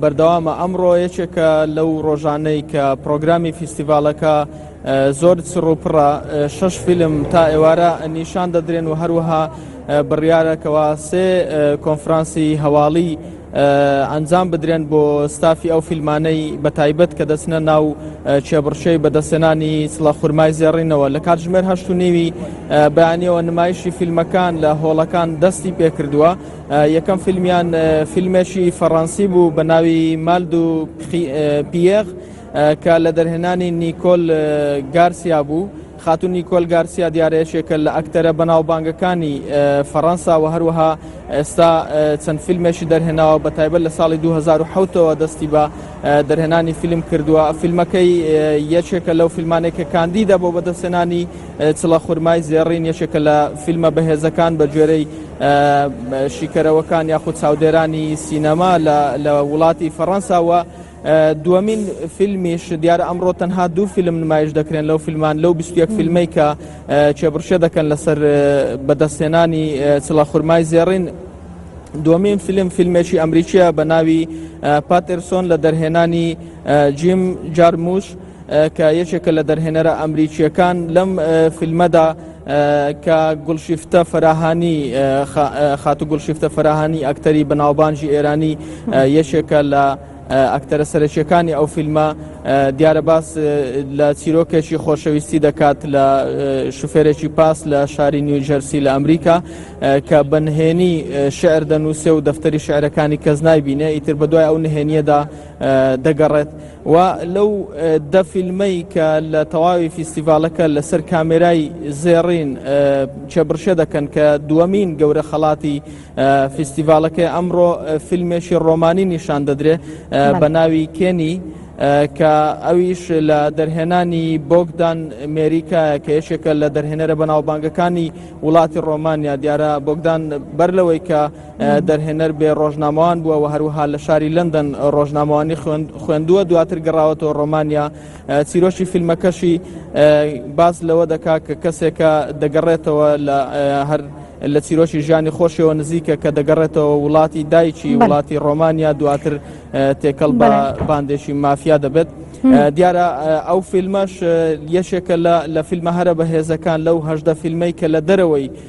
بەردەوامە، ئەمڕۆ یەکێکە لەو ڕۆژانەی کە پرۆگرامی فیستیڤاڵەکە زۆر چڕوپڕە، شەش فیلم تا ئێوارە نیشان دەدرێن و هەروەها بڕیارە کەوا سێ کۆنفرانسی هەواڵی ئەنجام بدرێن بۆ ستافی ئەو فیلمانەی بە تایبەت کە دەچنە ناو کێبڕچەی بەدەستێنانی سڵە خورمای زێڕینەوە لە کاتژمێر هەشت و نیوی بەیانیەوە نمایشی فیلمەکان لە هۆڵەکان دەستی پێکردووە. یەکەم فیلمیان فیلمێکی فەڕەنسی بوو بە ناوی مالد و پیەغ کە لە دەرهێنانی نیکۆل گارسیا بوو. خاتون نیکۆل گارسیا دیارەیەشێکە لە ئەکتەرە بەناوبانگەکانی فەڕەنسا و هەروەها ئێستا چەند فیلمێکی دەرهێناوە بە تایبەت لە ساڵی 2010ەوە دەستی بە دەرهێنانی فیلم کردووە فیلمەکەی یەکێکە لەو فیلمانێکە کاندیدە بۆ بەدەستێنانی چڵە خورمای زێڕین یەکێکە لە فیلمە بەهێزەکان بە گوێرەی شیکەرەوەکان یاخود چاودێرانی سینەما لە وڵاتی فەڕەنساوە دومین فیلمیش دیارە ئەمڕۆ تەنها دوو فیلم نمایش دەکرێن لەو فیلمان لەو 21 فیلمی کە چێبڕشە دەکەن لەسەر بەدەستێنانی چڵە خورمای زێڕین دومین فیلم فیلمێکی ئەمریکیە بە ناوی پاترسۆن لە دەرهێنانی جیم جارموش کە یەکێکە لە دەرهێنەرە ئەمریکیەکان لەم فیلمەدا کە گوڵشیفتە فراهانی خاتو گوڵشیفتە فراهانی ئەکتەری بەناوبانجی ئێرانی یەکێکە لە ئەکتەرە سەرەکیەکانی ئەو فیلمە دیارە باس لە چیرۆکێکی خۆشەویستی دەکات لە شوفێرێکی پاس لە شاری نیوجەرسی لە ئەمریکا کە بەنهێنی شعر دەنووسێ و دەفتەری شعرەکانی کەس نایبینێ ئیتر بەدوای ئەو نهێنیەدا دەگەڕێت و لەو دە فیلمەی کە لە تەواوی فیستیڤالەکە لەسەر کامێرای زێڕین چێبڕشە دەکەن کە دووەمین گەورە خەڵاتی فیستیڤالەکەی ئەمڕۆ فیلمێکی ڕۆمانی نیشان دەدرێ بە ناوی کێنی کە ئەویش لە دەرهێنانی بۆگدان مێریکایە کە یەکێکە لە دەرهێنەرە بەناوبانگەکانی وڵاتی ڕۆمانیا دیارە بۆگدان بەر لەوەی کە دەرهێنەر بێ ڕۆژنامەوان بووە و هەروها لە شاری لەندەن ڕۆژنامەوانی خوێندووە دواتر گەڕاوەتەوە ڕۆمانیا چیرۆشی فیلمەکەشی باس لەوە دەکا کە کەسێکە دەگەڕێتەوە لە هەر لە چیرۆکی ژیانی خۆشەوە نزیکە کە دەگەڕێتەوە وڵاتی دایکی وڵاتی ڕۆمانیا دواتر تێکەڵ بە باندێکی مافیا دەبێت دیارە ئەو فیلمەش یەشێکە لە فیلمە هەرە بەهێزەکان لەو هەشدە فیلمەی کە لە دەرەوەی